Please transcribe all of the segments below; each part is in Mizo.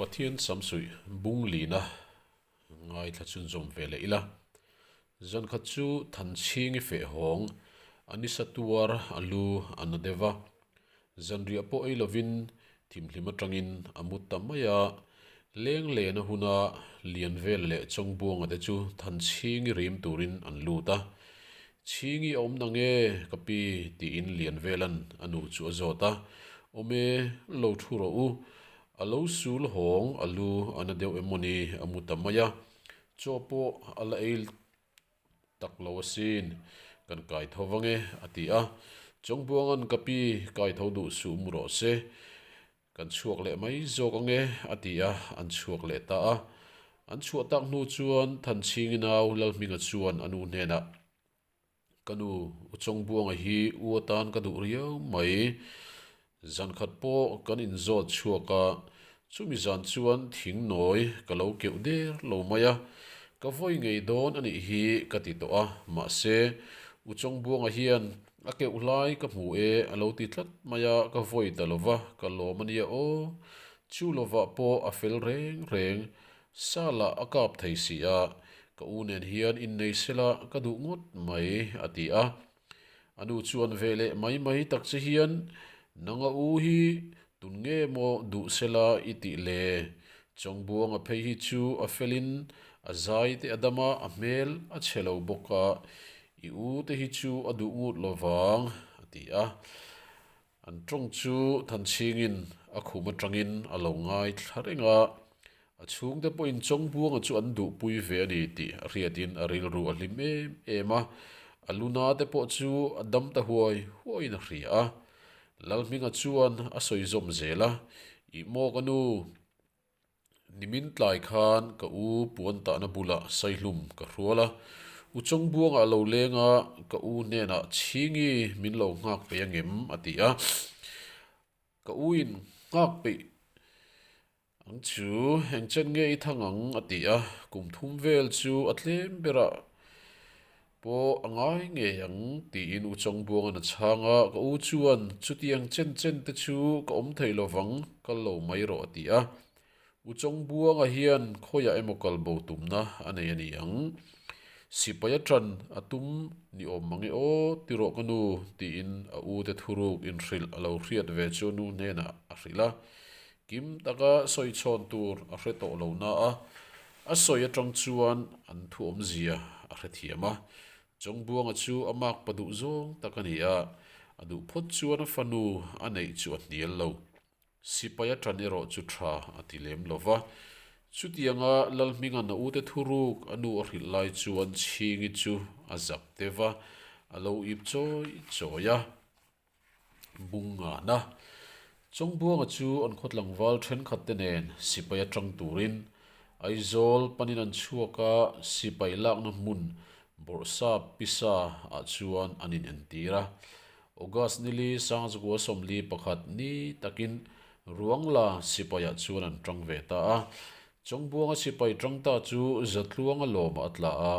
Pathian sam suih bung lin a ngaithla chun zawm ve leh ila. Zan khat chu than chhing i feh hawng a ni sa tuar a lu a na deuh va, zanriah pawh ei lovin thimhlim atangin a mut ta mai a. Leng lena huna lian vel leh chawng buanga te chu than chhing i rim turin an lut a. Chhingi a awm nang e ka pi, tiin Lianvelan a nu chu a zawt a, awm e, lo thu rawh u, a lo sul hawng a lu a na deuh emaw ni a mu ta mai a, chaw pawh a la ei tak lo asin, kan kai tho vang e a ti a, chawngbuangan ka pi kai tho duh suh mu rawh se, Kan chhuak leh mai zawk ang e, a ti a, an chhuak leh ta a. An chhuah tak hnu chuan Thanchhingi nau Lalhminga chuan a nu hnenah, Ka nu, u Chawngbuanga hi u atan ka duh riau mai. Zan khat pawh kan inzawt chhuak a, chumi zan chuan thing nawi ka lo keuh der lo mai a, ka vawi ngei dawn a nih hi ka ti tawh a, mahse, u Chawngbuanga hian A keuh hlai ka hmu e, a lo ti tlat mai a, ka vawi ta lo va, ka lawm a nia aw. Chu lovah pawh a fel reng reng. Sala a kap thei si a, ka u nen hian in nei se la, ka duh ngawt mai, a ti a. A nu chuan ve leh mai mai tak che hian, Nanga u hi tun nge maw duh se la i tih le? Chawngbuanga phei hi chu a felin a zaite a dam a, a hmel a che lo bawk a, I u te hi chu a duh ngût lo vang, a ti a. An ṭawng chu Thanchhingin a khum aṭangin a lo ngai thla reng a. A chhungte pawhin Chawngbuanga chu an duhpui ve a ni tih a hriatin a rilru a hlim em em a. A lu na te pawh chu a dam ta huai huaiin a hria a. Lalhminga chuan a sawi zawm zel a, I mawk a nu. Nimin tlai khan ka u puan tahna bulah saihlum ka hrual a, u Chawngbuanga a lo leng a, ka u hnenah chhingi min lo nghak peih angem? a ti a. Ka u in, Nghak peih ang chu, engchen nge i thang ang? a ti a. Kum thum vel chu a tlem berah Pawh a ngai ngei ang, tiin u Chawngbuang an a chhang a, ka u chuan chutiang chen chen te chu ka awm thei lo vang, kal lo mai rawh a ti a. U Chawngbuanga hian khawiah emaw kalbo tumna a nei a ni ang. Sipai a ṭan a tum ni awm mang e aw ti rawh ka nu, tiin a u te thuruk inhrilh a lo hriat ve chu nu hnenah a hrilh a, Kim taka sawi chhawn tur a hre tawh lo na a, a sawi atang chuan an thuawmzia a hre thiam a. Chawngbuanga chu a makpa duh zawng tak a ni a, a duh phawt chuan a fanu a neih chu a hnial lo. Sipai a tan erawh chu tha a ti lem lo va. Chutiang a Lalhminga Naute thuruk a nu a hrilh lai chuan Chhingi chu a zak te va, a lo ip chawi chawi a. Bung ngahna, Chawngbuanga chu an khawtlangval thenkhatte nen sipai atang turin Aizawl panin an chhuak a, sipai lakna hmun Bawrhsa Pisa ah chuan an inentir a. August nili sang zakua sawmli pakhat ni takin Ruangla sipai ah chuan an tang ve ta a. Chawngbuanga sipai tangta chu Zatluanga lawma a tla a,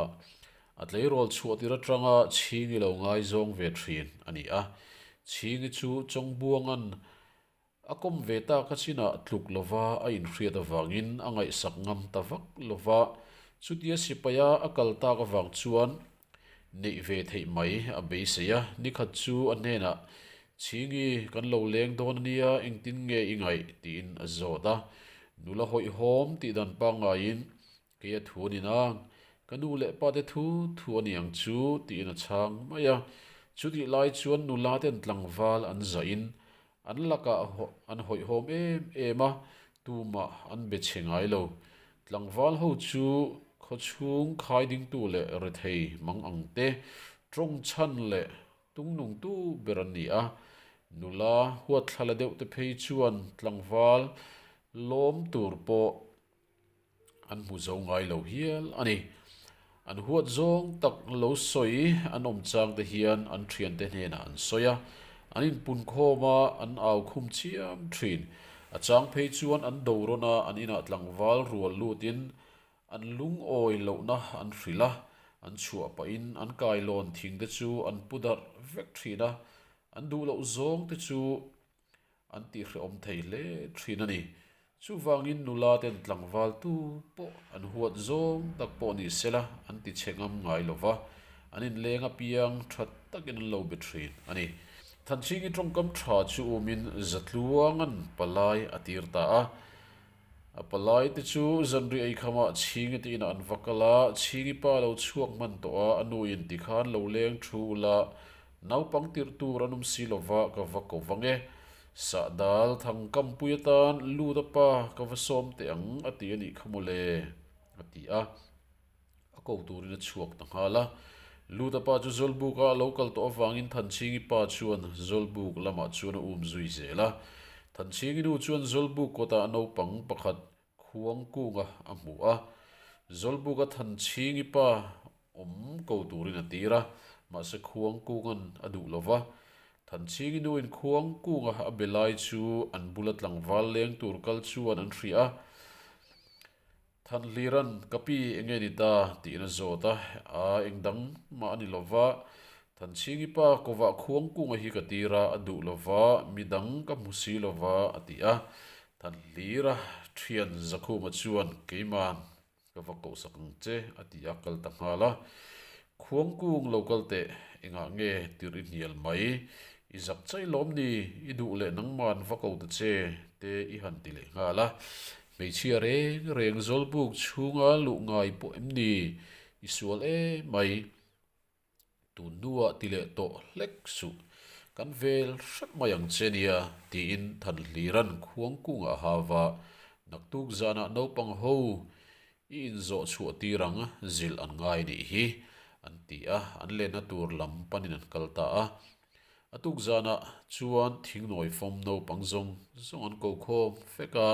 A tleirawl chhuah tir atanga Chhingi lo ngaizawng ve thin a ni a, Chhingi chu chawngbuangan a kawm ve tak a chinah tluk lova a inhriat avangin a ngaihsak ngam ta vak lo va, chutia sipaia a kal tak avang chuan neih ve theih mai a beisei a, nikhat chu a hnenah Chhingi kan lo leng dawn ania engtin nge i ngaih tiin a zawt a, nula hawihhawm tih dan pangaiin Kei a thu a ni nang. Ka nu leh pa te thu thu a niang chu, tiin a chhang mai a. Chutih lai chuan nula ten tlangval an zah in an lakah an hawihhawm em em a, tumah an be che ngai lo. Tlangval ho chu khaw chhung khai dingtu leh rethei mang ang te, tawng chhan leh tung nungtu ber an ni a. Nula huatthla la deuhte phei chuan tlangval lawm tur pawh An hmu zo ngai lo hial a ni. An huat zawng tak lo sawi an awm chang te hian an thiante hnenah an sawi a, an inpunkhawm a, an au khum chiam thin. A chang phei chuan an do rawn a, an inah tlangval rual lutin an lungawi lohna an hrilh a, an chhuah pahin an kai lawn thingte chu an pu darh vek thin a, an duh loh zawngte chu an tih hreawm thei hle thin a ni. Chuvangin nula ten tlangval tu pawh an huat zawng tak pawh nih sela an ti che ngam ngai lo va, an inleng apiang that takin an lo be thin a ni. Thanchhingi tawngkam tha chu umin zatluangan palai a tir ta a, A palai te chu zanri eikhama chhingi tiin a an va kal a, chhingi pa lo chhuak hman tawh a, a nu in ti khan lo leng thu ula, naupang tirh tur an um si lova ka va ko vang e. Sahdal, Thangkampui atan lut a pa ka va sawm teh ang a ti a nih kha maw le? a ti a. a ko turin a chhuak ta nghal a. Luta pa chu Zawlbuk a a lo kal tawh avangin Thanchhingi pa chuan Zawlbuk lamah chuan a um zui zel a. Thanchhingi nu chuan Zawlbuk kawtah naupang pakhat khuang kunga a hmuh a. Zawlbuk a Thanchhingi pa awm ko turin a tir a, mahse khuang kunga'n a duh lo va. Thanchhingi nuin khuang kunga a be lai chu an bula tlangval leng tur kal chuan an hria. Thanhliran, ka pi enge ni ta tih in a zawt a, aa eng dang mah a ni lo va, Thanchhingi pa kovah khuang kunga hi ka tir a, a duh lo va, mi dang ka hmu si lo va, a ti a. Thanhlira thian Zakhuma chuan, Keimah ka va kohsak ang che, a ti a, kal ta nghal a. Khuang kung lo kal teh, engah nge tirh i hnial mai? I zak chai lawm ni? I duh leh nangman va ko ta che? te i han ti leh nghal a. Hmeichhia reng reng zawlbuk chhunga luh ngai pawh em ni? I sual e mai. Tun hnuah ti leh tawh hlek suh. Kan vel hrep mai ang che nia, tiin Thanhliran khuang kungah a hau a. Naktuk zanah naupang ho I inzawh chhuah tir ang zilh an ngai nih hi, an ti a, an lenna tur lam panin an kal ta a. A tuk zanah chuan thingnawi fawm naupang zawng zawng an ko khawm fek a,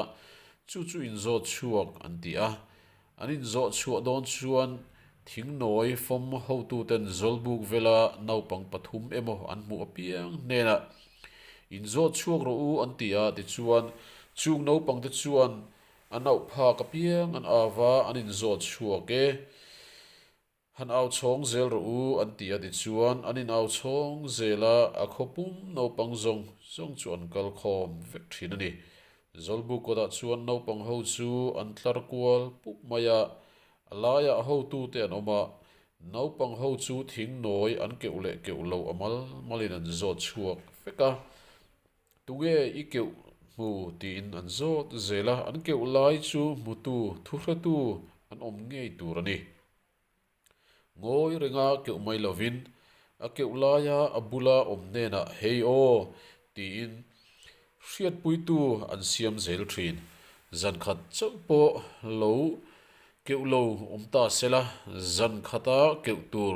chu chu inzawt chhuak an ti a. An inzawh chhuah dawn chuan thingnawi fawm hotuten zawlbuk vela naupang pathum emaw an hmuh apiang hnena inzawt chhuak rawh u an ti a tichuan chung naupangte chuan A nauphak apiang an ava an inzawt chhuak e. Han au chhawng zel rawh u an ti a tichuan an in au chhawng zel a, a khaw pum naupang zawng zawng chu an kal khawm vek thin a ni. Zawlbu kawtah chuan naupang ho chu an tlar kual pup mai a, a laiah hotute an awm a, naupang ho chu thing nawi an keuh leh keuh lo a mal malin an zawt chhuak vek a. Tunge i keuh hmu tiin an zawt zel a, an keuh lai chu hmutu thuhratu an awm ngei tur a ni. Ngawi renga keuh mai lovin a keuh laia a bula awm nenah hei aw tiin hriatpuitu an siam zel thin. Zankhat chauh pawh lo Keuh lo awm ta sela, zan khata keuh tur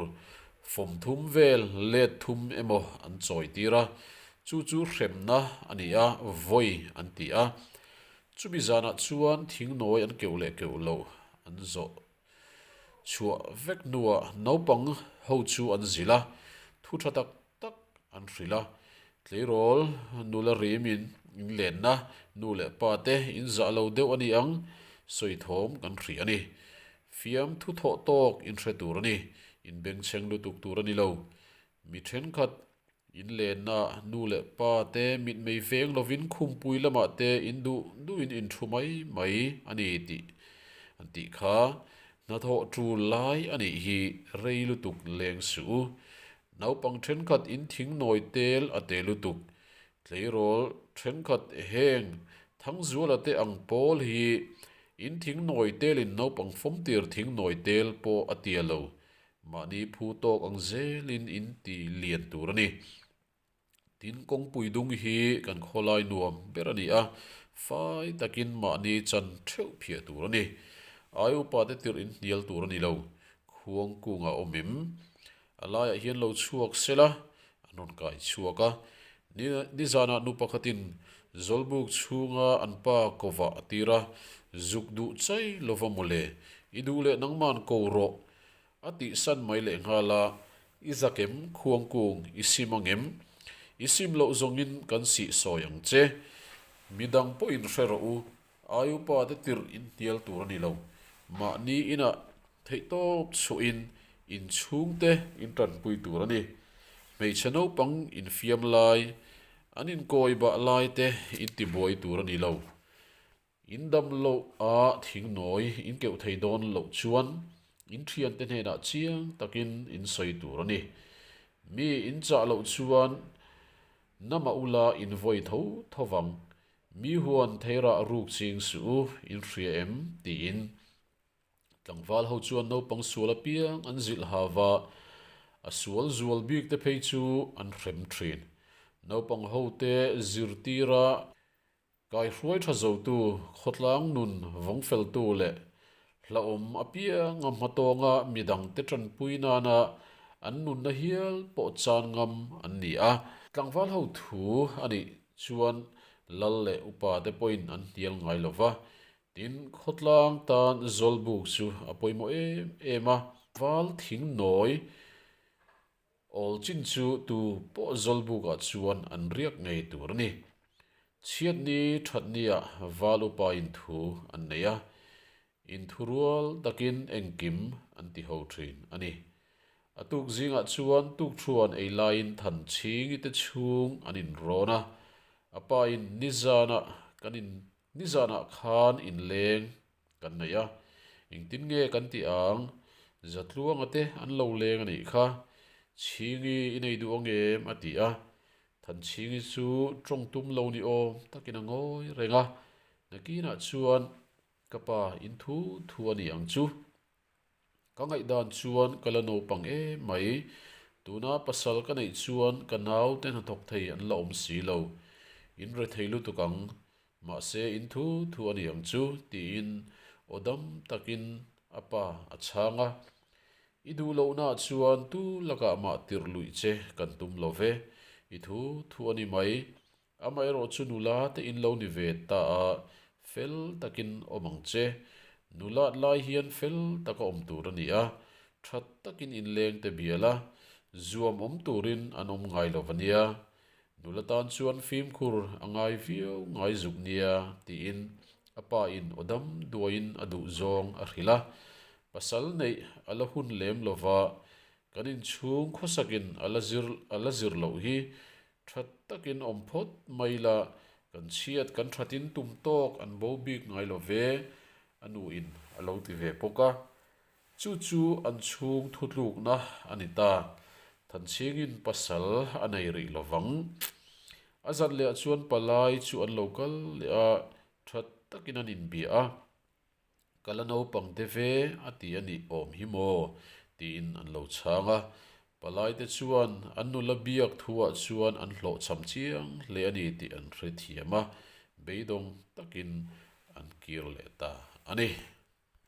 fawm thum vel, let thum emaw an chawi tir a, chu chu hremna a ni a, vawi an ti a. Chumi zanah chuan thing nawi an keuh leh keuh loh an zawh chhuah vek hnuah naupang ho chu an zil a, thu tha tak tak an hrilh a, tleirawl nula rimin inlenna nu leh pa te inzah lo deuh a ni ang, sawithawm kan hrih a ni. Fiam thu thawh tawk inhre tur a ni, inbengchheng lutuk tur a ni lo. Mi thenkhat inlennaah nu leh pa te mitmei veng lovin khumpui lamah te induh duhin in thu mai mai a ni tih an tih kha hnathawh tul lai a nih hi rei lutuk leng si u. Naupang thenkhat in thing nawi tel a teh lutuk. Tleirawl thenkhat heng Thangzuala te ang pawl hi in thing nawi telin naupang fawmtir thing nawi tel pawh a tia lo. Mahni phu tawk ang zelin in ti lian tur a ni. Tin, kawngpui dung hi kan khawlai nuam ber a ni a, fai takin mahni chan theuh phiah tur a ni. Ai upa te tirh in hnial tur a ni lo, khuang kungah awm em? A laiah hian lo chhuak sela, an rawn kai chhuak a. Ni nizanah nu pakhatin Zawlbuk chhunga an pa kovah a tir a, Zuk duh chai lova mawle, i duh leh nangma'n ko rawh, A tih san mai leh nghal a, I zak em, khuang kung, i sim ang em? I sim loh zawngin kan sih sawi ang che. Midang pawh in hre rawh u, ai upa te tirh in hnial tur a ni lo. Mahni inah theihtawp chuahin inchhung te in tanpui tur a ni. Hmeichhe naupang infiam lai, an inkawi bah lai te in tibuai tur a ni lo. In dam loh a thing nawi in keuh thei dawn loh chuan in thiante hnenah chiang takin in sawi tur a ni. Mi in chah loh chuan na mah u la in vawi tho tho vang. Mi huan thei rah ruk ching suh u, in hria em? tiin tlangval ho chuan naupang sual apiang an zilh hav a, a sual zual bik te phei chu an hrem thin. Naupang ho te zirtira Kaihruai tha zotu, khawtlang nun vawng feltu leh hlauhawm apiang a hmatawnga midangte tanpui nana an nunna hial pawh chan ngam an ni a. Tlangval ho thu a nih chuan Lal leh upa te pawhin an hnial ngai lo va, tin khawtlang tan zawlbuk chu a pawimawh em em a, val thing nawi. Awl chin chu tu pawh Zawlbuk ah chuan an riak ngei tur a ni. Chhiatni thatni ah val upa in thu an nei a, in thu rual takin engkim an ti ho thin a ni. A tuk zingah chuan tukṭhuan ei laiin than chhingi te chhung an in rawn a, a pa in nizan ah kan in Nizanah khan inleng kan neih a, engtin nge kan tih ang? Za tluanga te an lo leng a nih kha. Chhingi i nei duh angem? a ti a. Than Chhingi chu tawng tum lo ni awm takin a ngawi reng a. Nakinah chuan, Ka pa, in thu thu a ni ang chu. Ka ngaih dan chuan ka la naupang em mai. Tuna pasal ka neih chuan ka naute hnathawk thei an la awm si lo. In re thei lutuk ang. Mahse in thu thu a ni ang chu, tiin aw dam takin a pa a chhang a. I duh loh naah chuan tu lakah mah tirh luih che kan tum lo ve. I thu thu a ni mai. Amaherawh chu nula te in lo ni ve ta a, fel takin awm ang che. Nula tlai hian fel taka awm tur a ni a, that takin inleng te bial a, zuam awm turin an awm ngai lo ania. Nula tan chuan fimkhur a ngai viau ngai zuk nia tiin a pa in awdam duaiin a duh zawng a hrilh a, pasal neih a la hun lem lova kan inchhung khawsakin a la zir a la zir loh hi That takin awm phawt mai la, kan chhiat kan thatin tum tawk an bo bik ngai lo ve, a nu in a lo ti ve bawk a. Chu chu an chhung thu tlukna a ni ta, Thanchhing in pasal a nei rih lo vang. A zat leh ah chuan palai chu an lo kal leh a, that takin an inbia a. Ka la naupang te ve a ti a nih awm hi maw? tiin an lo chhang a. Palai te chuan an nula biak thuah chuan an hlawh cham chiang hle a ni tih an hrethiam a, beidawng takin an kir leh ta a ni.